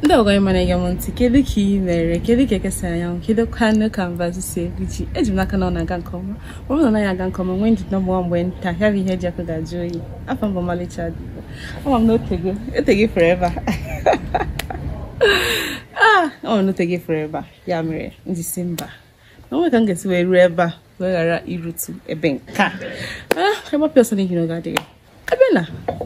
ndewo gị nwa na-ege m ntị kedu ka ị mere kedu ka eke si anya anwụ kedu kwanụ ka mbazi si ebichi eji m n'aka na ọ na-aga nke ọma ọ bụrụ na ọ naghị aga nke ọma nwee ndidi na mgbe mgbe nta ya bụ ihe dị ọkụ ga-ajụ oyi afa m bụ ọmalịcha dịgo ama m na otego otego forever ah ama m na otego forever ya mere m ji sị mba na onweghị ka m ga-esi wee ruo ebe a wee ghara irutu ebe nke a ah ebe ọpịa ọsọ n'ihi na oge adịghị a bịa na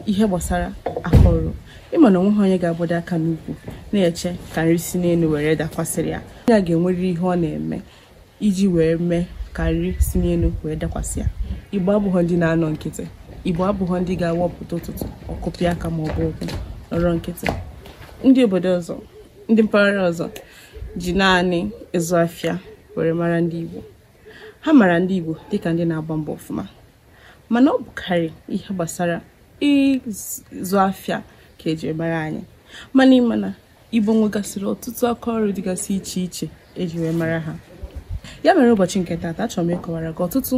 ihe gbasara aka ọrụ ịma na onweghị onye ga-agbado aka n'ukwu na-eche ka nri si n'elu were dakwasịrị ya onye a ga-enwerịrị ihe ọ na-eme iji wee mee ka nri si n'elu wee dakwasị ya igbo abụghọ ndị na-anọ nkịtị igbo abụghọ ndị ga-awapụta ụtụtụ ọkụpịa aka ma ọ bụ ụkwụ nọrọ nkịtị ndị obodo ọzọ ndị mpaghara ọzọ ji naanị ịzụ afịa were mara ndị igbo ha mara ndị igbo dịka ndị na-agba mbọ ọfụma mana ọ bụkarị ihe gbasara ịzụ afịa ka eji mara anyị mana ịma na igbo nwegasịrị ọtụtụ aka ọrụ dịgasị iche iche eji wee mara ha ya mere ụbọchị nke taata achọrọ m ịkọwara gị ọtụtụ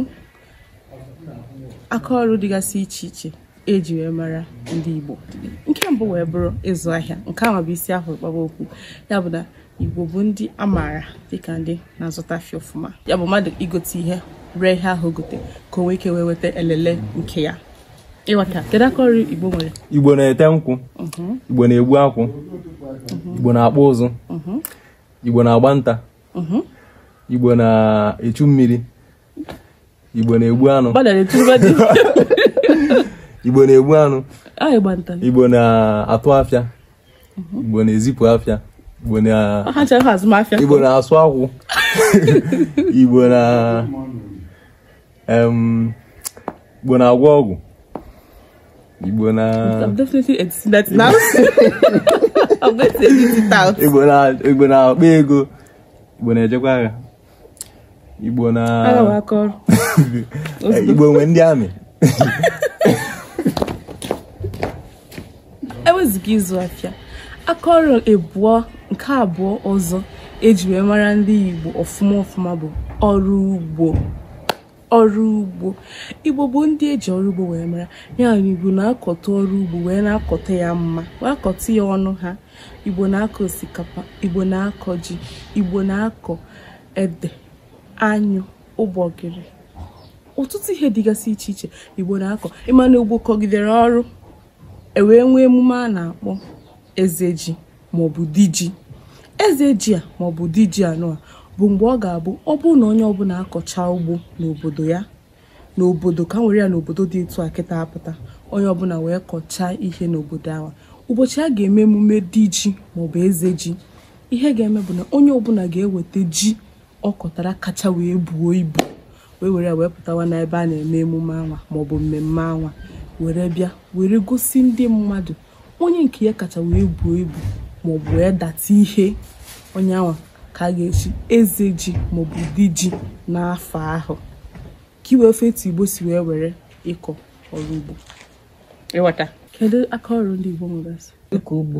aka ọrụ dịgasị iche iche eji wee mara ndị Igbo nke mbụ wee bụrụ ịzụ ahịa nke ahụ bụ isi a hụrụ kpaba okwu ya bụ na Igbo bụ ndị a maara dịka ndị na-azụta afịa ọfụma ya bụ mmadụ igote ihe ree ihe ahụ gote ka o nwee ike wee weta elele nke ya ịghọta kedu aka ọrụ Igbo nwere Igbo na-ete nkwụ mhm. Igbo na-egbu akwụ mhm. Igbo na-akpụ ụzụ mhm. Igbo na-agba nta Igbo na-echu mmiri igbo na-egbu anụ igbo na-egbu anụ igbo na-atụ afịa mhm. igbo na-ezipụ afịa igbo na-asụ akwụ igbo na igbo na-agwọ ọgwụ igbo na igbo na-akpa ego igbo na-ejekwa agha igbo na igbo nwe ndị army ewezụga ịzụ afịa aka ọrụ abụọ nke abụọ ọzọ eji wee mara ndị igbo ọfụma ọfụma bụ ọrụ ugbo ọrụ ugbo igbo bụ ndị eji ọrụ ugbo wee mara ya igbo na-akọta ọrụ ugbo wee na-akọta ya mma wee akọta ya ọnụ ha igbo na-akọ osikapa igbo na-akọ ji igbo na-akọ ede anyụ ụgbọgịrị ọtụtụ ihe dịgasị iche iche igbo na-akọ ịma na igbo kọgidere ọrụ ewee nwee emume a na-akpọ eze ji maọbụ di ji eze ji a maọbụ di ji anwa bụ mgbe ọ ga-abụ ọ bụrụ na onye ọbụla akọcha ugbo n'obodo ya n'obodo ka nwere ya n'obodo dị etu a kịta a pụta onye ọbụla wee kọchaa ihe n'obodo ahụ ụbọchị a ga-eme emume di ji maọbụ eze ji ihe ga-eme bụ na onye ọbụla ga-eweta ji ọ kọtara kacha wee buo ibu wee were ya wee pụtawa n'ebe a na-eme emume anwa maọbụ mmemme anwa were bịa were gosi ndị mmadụ onye nke ya kacha wee buo ibu maọbụ wee data ihe onye anwa ka a ga-echi eze ji maọbụ di ji n'afọ ahụ ka i wee fụ etu igbo si wee were ịkọ ọrụ ugbo ị ghọta kedu aka ọrụ ndị igbo nwegasị ịkọ ugbo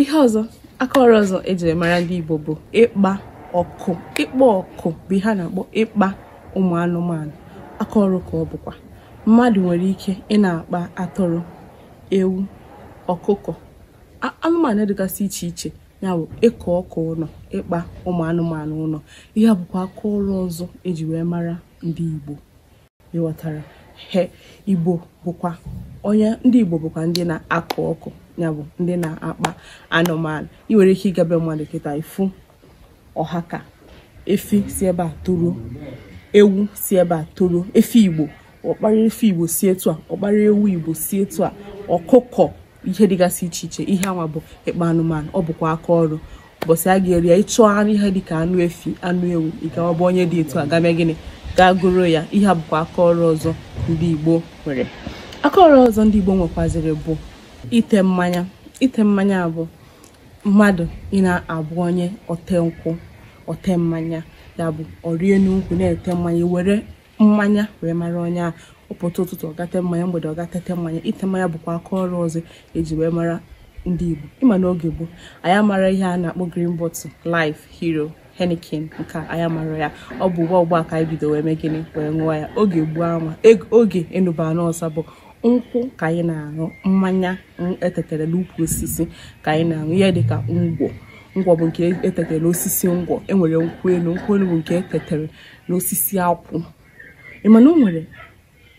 ihe ọzọ aka ọrụ ọzọ eji wee mara ndị Igbo bụ ịkpa ọkụ ịkpa ọkụ bụ ihe a na-akpọ ịkpa ụmụ anụmanụ aka ọrụ ka ọ bụkwa mmadụ nwere ike ị na-akpa atụrụ ewu ọkụkọ anụmanụ dịgasị iche iche ya bụ ịkpa ọkụ ụnọ ịkpa ụmụ anụmanụ ụnọ ihe a bụkwa aka ọrụ ọzọ eji wee mara ndị Igbo ị ghọtara he igbo bụkwa onye ndị igbo bụkwa ndị na-akpa ọkụ ya bụ ndị na-akpa anụmanụ ị nwere ike ịga be mmadụ kịta ị fụ ọha ka efi si ebe a toruo ewu si ebe a toruo efi igbo ọ kpara efi igbo si etu a ọ kpara ewu igbo si etu a ọkụkọ ihe dịgasị iche iche ihe anwa bụ ịkpa anụmanụ ọ bụkwa aka ọrụ ụbọchị a ga-eri ya ị chọọ anụ ihe dịka anụ efi anụ ewu ị gawa be onye dị etu a gaa mee gịnị gaa goro ya ihe a bụkwa aka ọrụ ọzọ ndị Igbo nwere aka ọrụ ọzọ ndị Igbo nwekwaziri bụ ite mmanya ite mmanya bụ mmadụ ị na-abụ onye ote nkwụ ote mmanya ya bụ ọrị enu nkwụ na-ete mmanya were mmanya wee mara onye ahụ ọ pụta ụtụtụ ọ gaa tee mmanya mgbede ọ gaa tete mmanya ite mmanya bụkwa aka ọrụ ọzọ eji wee mara ndị Igbo ị ma n'oge gboo anyị amarọ ihe a na-akpọ green bottle life hero Heineken nke anyị amarọ ya ọ bụ ugbu a ugbu a ka anyị bido wee mee gịnị wee ṅụọ ya oge gboo anwa oge enu bụ ana ọsa bụ nkwụ ka anyị na-aṅụ mmanya etetere n'ukwu osisi ka anyị na-aṅụ ihe dịka ngwọ ngwọ bụ nke etetere n'osisi ngwọ enwere nkwụ elu nkwụ elu bụ nke etetere na osisi akwụ ị ma na o nwere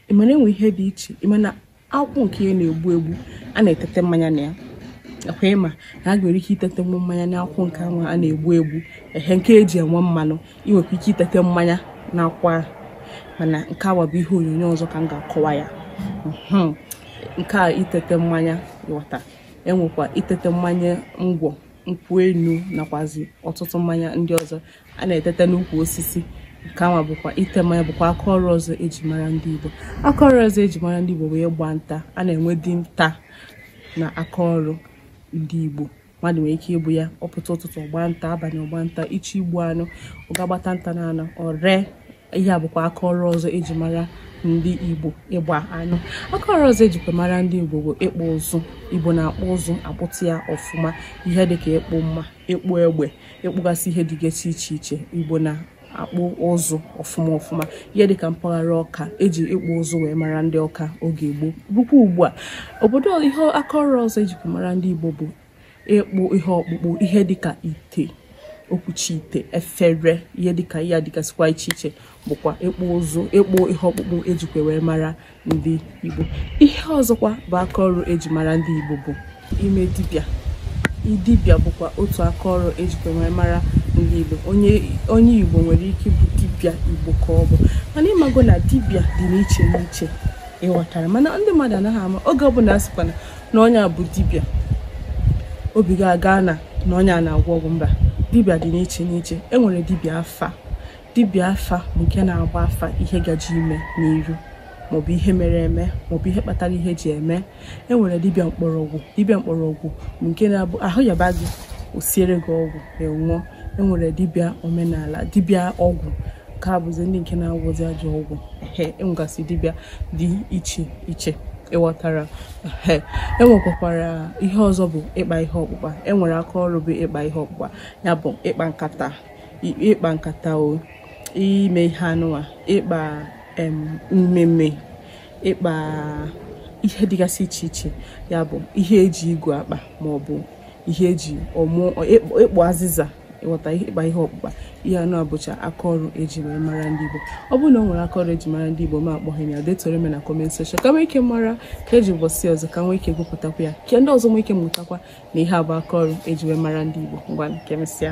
ị ma na enwe ihe dị iche ị ma na akwụ nke ya na-egbu egbu a na-etete mmanya na ya ọ kwa ị ma na e nwere ike itete nwa mmanya na akwụ nke ahụ a na-egbu egbu ehe nke eji enwe mmanụ ị nwekwa ike itete mmanya na akwụ ahụ mana nke anwa bụ ihe onyonyo ọzọ ka m ga-akọwa ya mhm. nke a itete mmanya ghọta enwekwa itete mmanya ngwọ nkwụ enu nakwazi ọtụtụ mmanya ndị ọzọ a na-eteta n'ukwu osisi nke anwa bụkwa ite mmanya bụkwa aka ọrụ ọzọ eji mara ndị Igbo aka ọrụ ọzọ eji mara ndị Igbo bụ ịgba nta a na-enwe di nta na aka ọrụ ndị Igbo mmadụ nwere ike ịbụ ya ọ pụta ụtụtụ ọ gbaa nta abalị ọ gbaa nta ichi igbu anụ ọ ga-agbata nta na anụ o ree ihe a bụkwa aka ọrụ ọzọ eji mara ndị igbo ịgba anụ aka ọrụ ọzọ ejikwa mara ndị igbo bụ ịkpụ ụzụ igbo na-akpụ ụzụ akpụta ya ọfụma ihe dịka ịkpụ mma ịkpụ egbe ịkpụgasị ihe dịgasị iche iche igbo na akpụ ụzụ ọfụma ọfụma ihe dịka mpaghara ọka eji ịkpụ ụzụ wee mara ndị ọka oge gboo rukwa ugbu a obodo ihe aka ọrụ ọzọ ejikwa mara ndị igbo bụ ịkpụ ihe ọkpụkpụ ihe dịka ite okwuchi ite efere ihe dịka ihe dịgasịkwa iche iche bụkwa ịkpụ ụzụ ịkpụ ihe ọkpụkpụ ejikwa wee mara ndị Igbo ihe ọzọkwa bụ aka ọrụ eji mara ndị Igbo bụ ime dibịa dibịa bụkwa otu aka ọrụ ejikwa wee mara ndị Igbo onye Igbo nwere ike ịbụ dibịa Igbo ka ọ bụ mana ịmago na dibịa dị n'iche n'iche ịghọtara mana ndị mmadụ anaghị ama oge ọbụla asịkwana na onye a bụ dibịa obi gị agaa na na onye a na-agwọ ọgwụ mba dibịa dị n'iche n'iche e nwere dibịa afa dibịa afa bụ nke na-agba afa ihe gaje ime n'iru maọbụ ihe mere eme maọbụ ihe kpatara ihe ji eme e nwere dibịa mkpọrọgwụ dibịa mkpọrọgwụ bụ nke na-abụ ahụ yaba gị o siere gị ọgwụ ị ṅụọ e nwere dibịa omenala dibịa ọgwụ nke a bụzi ndị nke na-agwọzi ajọ ọgwụ enwegasị dibịa dị iche iche ịghọtara enwekwakwara ihe ọzọ bụ ịkpa ihe ọkpụkpa enwere aka ọrụ bụ ịkpa ihe ọkpụkpa ya bụ ịkpa nkata ịkpa nkata o ime ihe anụwa ịkpa mmemme ịkpa ihe dịgasị iche iche ya bụ ihe eji igu akpa maọbụ ihe eji ọmụ ịkpa azịza ịghọta ịkpa ihe ọkpụkpa ihe anụwa bụcha aka ọrụ eji wee mara ndị Igbo ọ bụrụ na o nwere aka ọrụ eji mara ndị Igbo ma akpọghị m ya detoro m na comment section ka m nwee ike mara ka eji ụbọchị ọzọ ka m nwee ike gụpụtakwa ya ka ndị ọzọ nwee ike mụtakwa na ihe a bụ aka ọrụ eji wee mara ndị Igbo ngwanụ ka emesịa